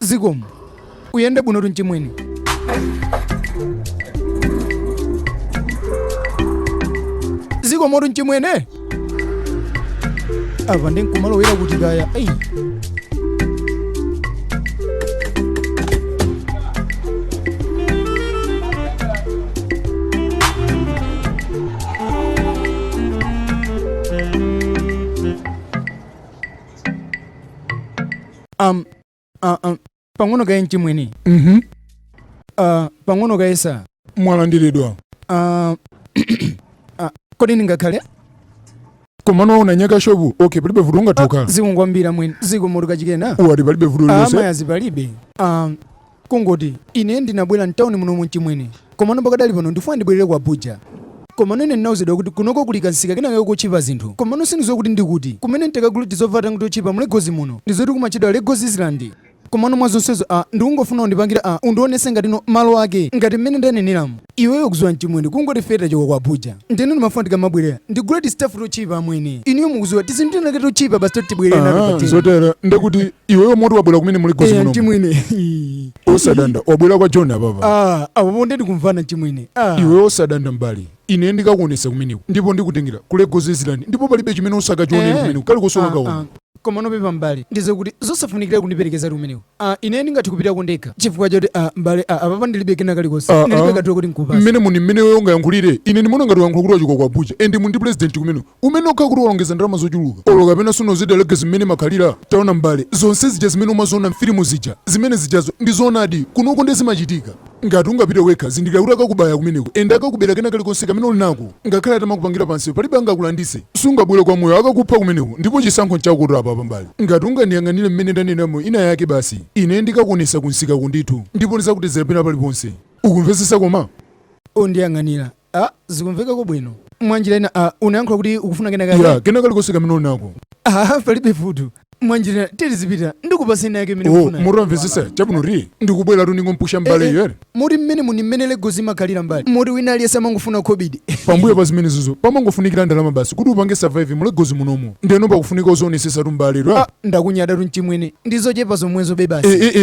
zikomo uyende bwinotu mchimwene zikomotu mchimwene apa nde nkumalowera kuti kaya eyi um, uh, um, pang'ono kaye mchimwene mhm uh, pang'ono kaye sa mwalandiridwa uh, uh, kodi ndingakhale komano munanyaka shopu okay palibe vuto ungatokhala zikomo kwambiri amwene zikomotu achikena mwati palibe vuto lilonse amayazi palibe um, Kungoti, ine ndinabwera mtauni munomo mchimwene, komano pakadali pano ndikufuna ndibwelere ku Abuja. Komano ine ndinauzidwa kuti kunoko kuli kamsika kenakake kotchipa zinthu, komano sindikuziwa kuti ndi kuti. Kumene ntakagule tizovala tangoti totchipa mu Lagos muno, ndizoti kumatchedwa Lagos Island. Komano mwa zonsezo, ah, ndikungofuna undipangira ah, undionetse ngatino malo ake ngati mmene ndaneneramu. Iweyo ukuziwa nchimwene kungoti ife tachoka ku Abuja ndeno ndimafuna tikamabwerera ndigule tistaff totchipa amwene inuyo mukuziwa tizinthu tinake totchipa basi toti tibwerere nato Ah, pateni zotero ndekuti iweyo moti wabwera kumene mu Lagos eya muno nchimwene osadanda wabwera kwa Joni apapa ah apo nde tikumvana nchimwene ah iwe osadanda m'bale ine ndikakuonesa kumeneko ndipo ndikutengera ku Lagos Island ndipo palibe chimene sukachiona Eh. kumeneko kali kusoka Ah, kaona ah. Komano pepa, m'bale, ndi zokuti zosafunikira kundiperekeza kumeneko. A, ine ndingathe kupitako ndekha, chifukwa choti, a, m'bale, a, apapa ndiribe kena kalikonse. Ah, Ndiribe ah. katulo, koti nkupatse. mmene muno mmene iweyo ungayankhulire ine ndimaona ngati ukuyankhula kuti wachoka ku abuja and mu ndi president kumene umenewo okhala kuti walongeza ndalama zochuluka olo kapena sunaziwe Lagos mmene imakhalira taona mbale zonse zija zimene umaziona mfilimu zija zimene zijazo ndi zoonadi kunoko nde zimachitika Ngati ungapite wekha, zindikira kuti akakubaya kumeneko and akakubera kena kalikonse kamene uli nako. Ngakhale atamakupangira pamsewu, palibe angakulanditse. Sungabwere kwa moyo, akakupha kumeneko. Ndipo chisankho nchakotu apapa m'bale. Ngati ungandiyang'anire mmene ndaneneramu inayake basi, ine ndikakuonetsa kumsikako ndithu ndipo ndidzakutezera pena paliponse. Ukumvetsetsa koma? Undiyang'anira Ah, zikumvekako bwino. Mwanjira ina, ah, unayankhula kuti ukufuna kena kake? Ya, kena kalikonse kamene uli nako. Ah, palibe vuto. Mwanjira ina, tiye tizipita, ndikupasa ina yake imene Oh, ukufuna. mwamvesesa chabwinotu ndikubweratu ningompusha mbale Eh, eh, yere Moti mmene muno mmene Lagos imakhalira m'bale. Moti wina aliyese amangofuna khobidi. pambuyo pa zimenezizo pamangofunikira ndalama basi kuti upange survive mu Lagos munomo ndeno pakufunika uzionesesatu m'bale ra Ah, ndakunyadatu mchimwene. Ndizochepa zomwezobe basi. Eh, eh, eh,